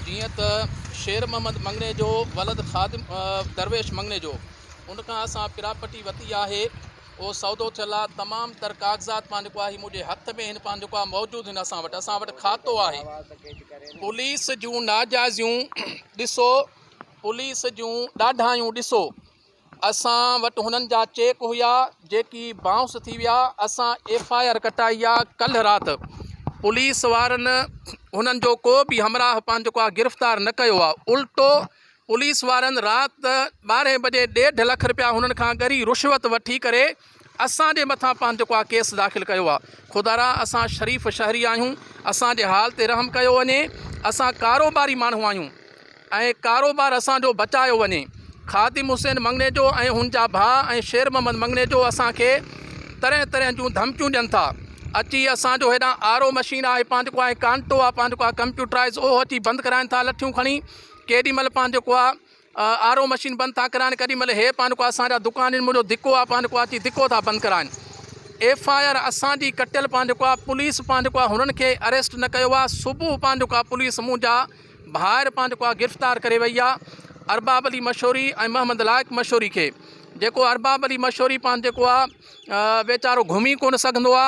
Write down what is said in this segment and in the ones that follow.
جيئن ته شير محمد مڱڻي جو ولد خادم درويش مڱڻيجو ان کان اسان پراپرٽي وتي آهي اهو سودو ٿيل آهي تمام تر ڪاغذات پنهنجو جيڪو آهي منهنجي هٿ ۾ هن پنهنجو آهي موجود هن اسان وٽ اسان وٽ کاتو آهي پوليس جون ناجائزيون ڏسو پوليس جون ڏاڍايون ڏسو اسان وٽ هنن جا چيڪ هيا جيڪي بائونس ٿي ويا اسان ايف آء آر ڪٽائي آ ڪلهه رات پوليس وارن هنن جو ڪو به همراهه پنهنجو ڪو آ گرفتار نه ڪيو آ الٽو پوليس وارن رات ٻارهين بجي ڏيڍ لک رپيا هنن کان ڳري رشوت وٺي ڪري اسان جي مٿان پنهن جيڪو آ ڪيس داخل ڪيو آ خدارا اسان شريف شهري آهيون اسان جي حال تي رحم ڪيو وڃي اسان ڪاروباري ماڻهو آهيون ۽ ڪاروبار اسان جو بچايو وڃي خادم حسين مڱڻيجو ۽ هن جا ڀاء ۽ شير محمد مڱڻيجو اسان کي طرح طرح جون ڌمڪيون ڏين ٿا اچي اسان جو هيڏان آر او مشين آهي پنهن جيڪو آهي ڪانٽو آ پنهن جيڪو آ ڪمپيوٽرائز اهو اچي بند ڪرائين ٿا لٺيون کڻي ڪيڏي مهل پنهن جيڪو آ آر او مشين بند ٿا ڪرائن ڪڏھن مھل ھي پانڪو اسان جا دڪان ھن منھنجو ڌڪو آ پانڪو اچي ڌڪو ٿا بند ڪرائن ايف آء آر اسان جي ڪٽيل پانڪو آ پوليس پانڪو آ ھنن کي اريسٽ نه ڪيو آ صبح پانڪو آ پوليس منھنجا ڀائر پانڪو آ گرفتار ڪري وئي آ ارباب علي مشوري ۽ محمد لائق مشوري کي جيڪو ارباب علي مشوري پانڪو آ ويچارو گھمي ڪون سگھندو آ.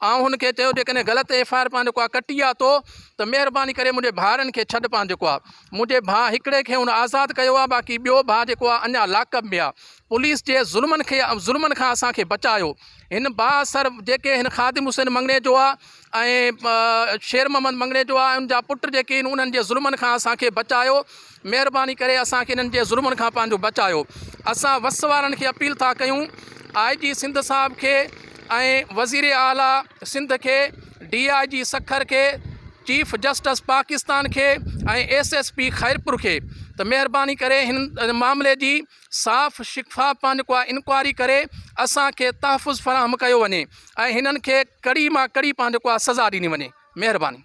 آئون هن کي چيو جيڪڏهن غلط ايف آء آر پنهنجو ڪو ڪٽي آ تو ته مهرباني ڪري منهنجي ڀائرن کي ڇڏ پنهنجو ڪو آ منهنجي ڀاء هڪڙي کي هن آزاد ڪيو آ باقي ٻيو ڀاء جيڪو آ اڃا لاڪ اپ ۾ آ پوليس جي ظلمن کي ظلمن کان اسان کي بچايو هن بااثر جيڪي هن خادم حسين مڱڻيجو آ ۽ شير محمد مڱڻيجو آ ان جا پٽ جيڪي ان انهن جي ظلمن کان اسان کي بچايو مهرباني ڪري اسان کي انهن جي ظلمن کان پنهنجو بچايو اسان وس وارن کي اپيل ٿا ڪيون آء جي سنڌ صاحب کي ۽ وزير اعليٰ سنڌ کي ڊي آء جي سکر کي چيف جسٽس پاڪستان کي ۽ ايس ايس پي خيرپور کي ته مهرباني ڪري هن معاملي جي صاف شفاف پنهنجو ڪو آء انڪوائري ڪري اسان کي تحفظ فراهم ڪيو وڃي ۽ هنن کي ڪڙي مان ڪڙي پنهنجو ڪو آء سزا ڏني وڃي مهرباني